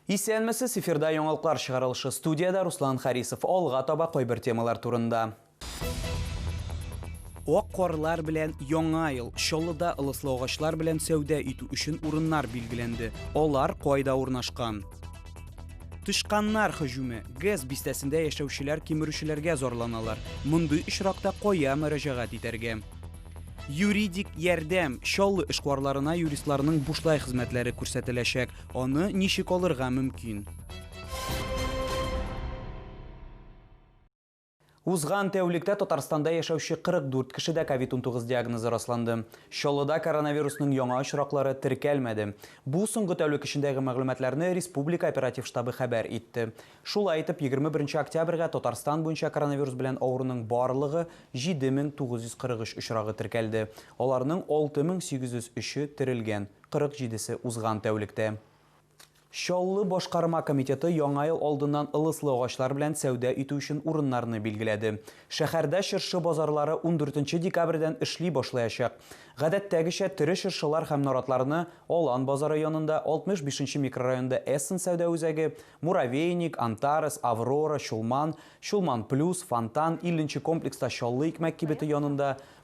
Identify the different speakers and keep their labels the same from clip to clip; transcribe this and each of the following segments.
Speaker 1: Исәнмесез, эфирда яңалыклар чыгарылышы студиядә Руслан Харисов. Алга таба кайбер темалар турында. Ак карлар белән яңа ел Чаллыда ылыслы агачлар белән сәүдә итү өчен урыннар билгеләнде. Алар кайда урнашкан? Тычканнар һөҗүме. ГЭС бистәсендә яшәүчеләр кимерүчеләргә зарланалар. Мондый очракта кая мөрәҗәгать итәргә? Юридик ярдәм. Чаллы эшкуарларына юристларның бушлай хезмәтләре күрсәтеләчәк. Аны ничек алырга мөмкин? Узган тәүлектә Татарстанда яшәүче 44 кешедә ковид-19 диагнозы расланды. Чаллыда коронавирусның яңа очраклары теркәлмәде. Бу соңгы тәүлек эчендәге мәгълүматларны республика оператив штабы хәбәр итте. Шулай итеп, 21 нче октябрьгә Татарстан буенча коронавирус белән авыруның барлыгы 7943 очрагы теркәлде, аларның 6803-е терелгән, 47 се узган тәүлектә. Чаллы башкарма комитеты Яңа ел алдыннан ылыслы агачлар белән сәүдә итү өчен урыннарны билгеләде. Шәһәрдә чыршы базарлары ундүртенче декабрьдән эшли башлаячак. Гадәттәгечә, тере чыршылар һәм наратларны Алан базары янында, 65 нче микрорайонда Эссен сәүдә үзәге, Муравейник, Антарес, Аврора, Чулман, Чулман Плюс, Фонтан, 50 нче комплекста Чаллы икмәк кибете янында,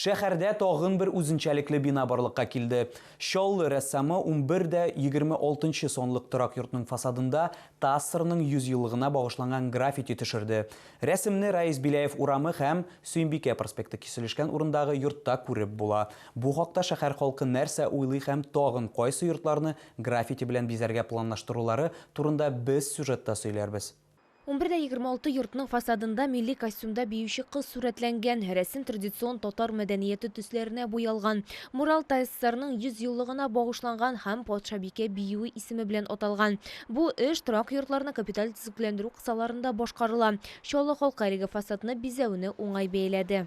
Speaker 1: Шәһәрдә тагын бер үзенчәлекле бина барлыкка килде. Чаллы рәссамы унбер дә егерме алтынчы санлык торак йортның фасадында ТАССРның йөз еллыгына багышланган граффити төшерде. Рәсемне Раис Беляев урамы һәм Сөембикә проспекты киселешкән урындагы йортта күреп була. Бу хакта шәһәр халкы нәрсә уйлый һәм тагын кайсы йортларны граффити белән бизәргә планлаштырулары турында без сюжетта сөйләрбез. Унбер дә егерме алты
Speaker 2: йортның фасадында милли костюмда биюче кыз сурәтләнгән, рәсем традицион татар мәдәнияте төсләренә буялган. Мурал ТССРның 100 еллыгына багышланган һәм Патшабикә биюе исеме белән аталган. Бу эш торак йортларны капиталь төзекләндерү кысаларында башкарыла. Чаллы халкы әлеге фасадны бизәүне уңай бәяләде.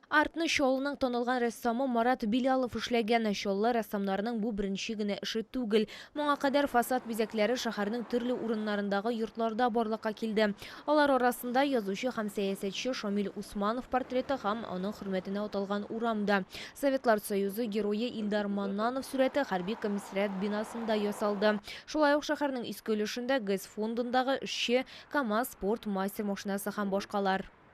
Speaker 3: Артны Чаллының
Speaker 2: танылган рәссамы Марат Билялов эшләгән. Чаллы рәссамнарының бу беренче генә эше түгел. Моңа кадәр фасад бизәкләре шәһәрнең төрле урыннарындагы йортларда барлыкка килде. Алар арасында, язучы һәм сәясәтче Шамил Усманов портреты һәм аның хөрмәтенә аталган урам да. Советлар Союзы Герое Илдар Маннанов сурәте хәрби комиссариат бинасында ясалды. Шулай ук шәһәрнең иске өлешендә ГЭС фондындагы эшче, КАМАЗ спорт мастер машинасы һәм башкалар.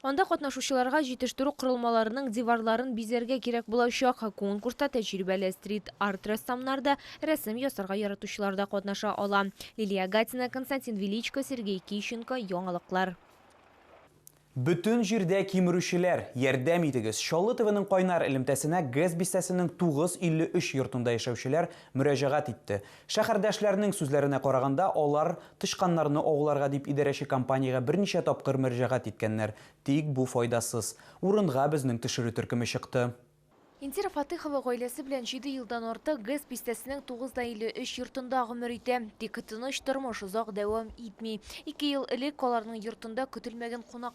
Speaker 2: Анда катнашучыларга җитештерү корылмаларының диварларын бизәргә кирәк булачак. Конкурста тәҗрибәле стрит-арт рәссамнар да, рәсем ясарга яратучылар да катнаша ала. Лилия Гатина, Константин Величко, Сергей Кищенко, Яңалыклар.
Speaker 1: Бөтен җирдә кимерүчеләр, ярдәм итегез! Чаллы ТВның кайнар элемтәсенә ГЭС бистәсенең 953 йортында яшәүчеләр мөрәҗәгать итте. Шәһәрдәшләрнең сүзләренә караганда, алар тычканнарны ауларга дип идарәче компаниягә берничә тапкыр мөрҗәгать иткәннәр, тик бу файдасыз. Урынга безнең тешерү төркеме чыкты. Индира
Speaker 2: Фатыйхова гаиләсе белән җиде елдан артык ГЭС бистәсенең 9 да 53 йортында гомер итә. Тик тыныч тормыш озак дәвам итми. Ике ел элек аларның йортында көтелмәгән кунак.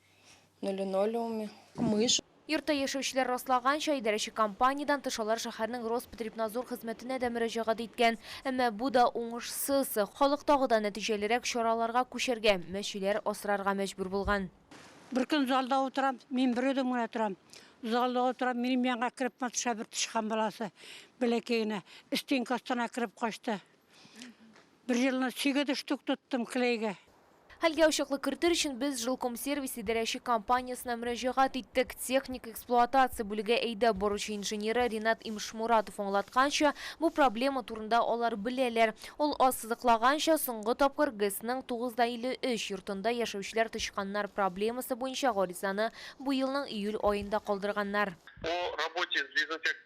Speaker 4: на линолеуме. Мышь. Йортта яшәүчеләр
Speaker 2: раслаганча, идарәче компаниядән тыш алар шәһәрнең Роспотребнадзор хезмәтенә дә мөрәҗәгать иткән, әмма бу да уңышсыз. Халык тагы да нәтиҗәлерәк чараларга күчәргә, мәчеләр асрарга мәҗбүр булган. Беркөн залда
Speaker 5: утырам, мин бер үзем генә торам. Залда утырам, минем янга кереп маташа бер тычкан баласы, бәләкәй генә. Стенка астына кереп качты. Бер җылына чиге төштек, тоттым клейга. Хәлгә ачыклык
Speaker 2: кертер өчен без Жилкомсервис идарәче компаниясенә мөрәҗәгать иттек. Техник эксплуатация бүлеге әйдәп баручы инженеры Ринат Имшмуратов аңлатканча, бу проблема турында алар беләләр. Ул ассызыклаганча, соңгы тапкыр ГЭСның 9 да 53 йортында яшәүчеләр тычканнар проблемасы буенча гаризаны быелның июль аенда калдырганнар. О работе
Speaker 6: с дезинфекцией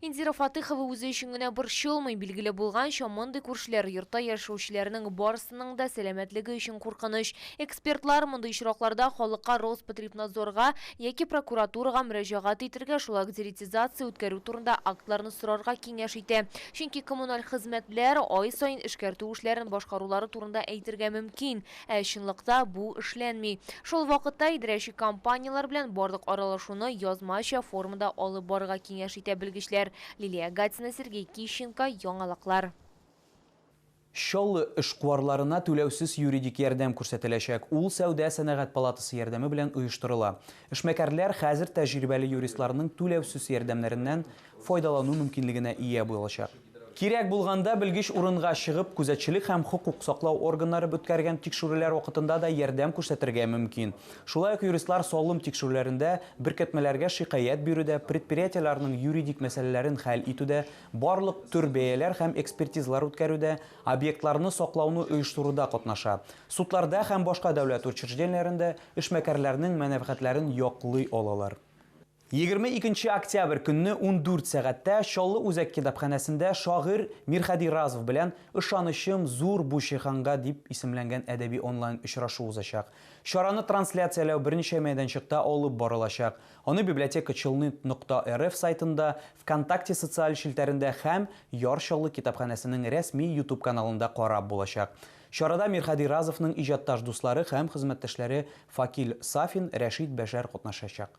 Speaker 6: Индира
Speaker 2: Фатыйхова үзе өчен генә борчылмый. Билгеле булганча, мондый күршеләр йортта яшәүчеләрнең барысының да сәламәтлеге өчен куркыныч. Экспертлар мондый очракларда халыкка Роспотребнадзорга яки прокуратурага мөрәҗәгать итәргә, шулай ук деретизация үткәрү турында актларны сорарга киңәш итә. Чөнки коммуналь хезмәтләр ай саен эшкәртү эшләрен башкарулары турында әйтергә мөмкин. Ә чынлыкта бу эшләнми. Шул вакытта идарәче компанияләр белән барлык аралашуны язмача формада алып барырга киңәш итә белгечләр. Лилия Гатина, Сергей Кищенко, Яңалыклар.
Speaker 1: Чаллы эшкуарларына түләүсез юридик ярдәм күрсәтеләчәк. Ул сәүдә-сәнәгать палатасы ярдәме белән оештырыла. Эшмәкәрләр хәзер тәҗрибәле юристларның түләүсез ярдәмнәреннән файдалану мөмкинлегенә ия булачак. Кирәк булганда белгеч урынга чыгып, күзәтчелек һәм хокук саклау органнары үткәргән тикшерүләр вакытында да ярдәм күрсәтергә мөмкин. Шулай ук юристлар салым тикшерүләрендә, беркетмәләргә шикаять бирүдә, предприятиеләрнең юридик мәсьәләләрен хәл итүдә, барлык төр бәяләр һәм экспертизалар үткәрүдә, объектларны саклауны оештыруда катнаша. Судларда һәм башка дәүләт учреждениеләрендә эшмәкәрләрнең мәнәфәгатьләрен яклый алалар. Егерме икенче октябрь көнне ундүрт сәгатьтә Чаллы үзәк китапханәсендә шагыйрь Мирхәди Разов белән Ышанычым зур бу җиһанга дип исемләнгән әдәби онлайн-очрашу узачак. Чараны трансляцияләү берничә мәйданчыкта алып барылачак, аны библиотека челнит нокта рф сайтында, Вконтакте социаль челтәрендә һәм Яр Чаллы китапханәсенең рәсми YouTube каналында карап булачак. Чарада Мирхәди Разовның иҗатташ дуслары һәм хезмәттәшләре Факил Сафин, Рәшит Бәшәр катнашачак.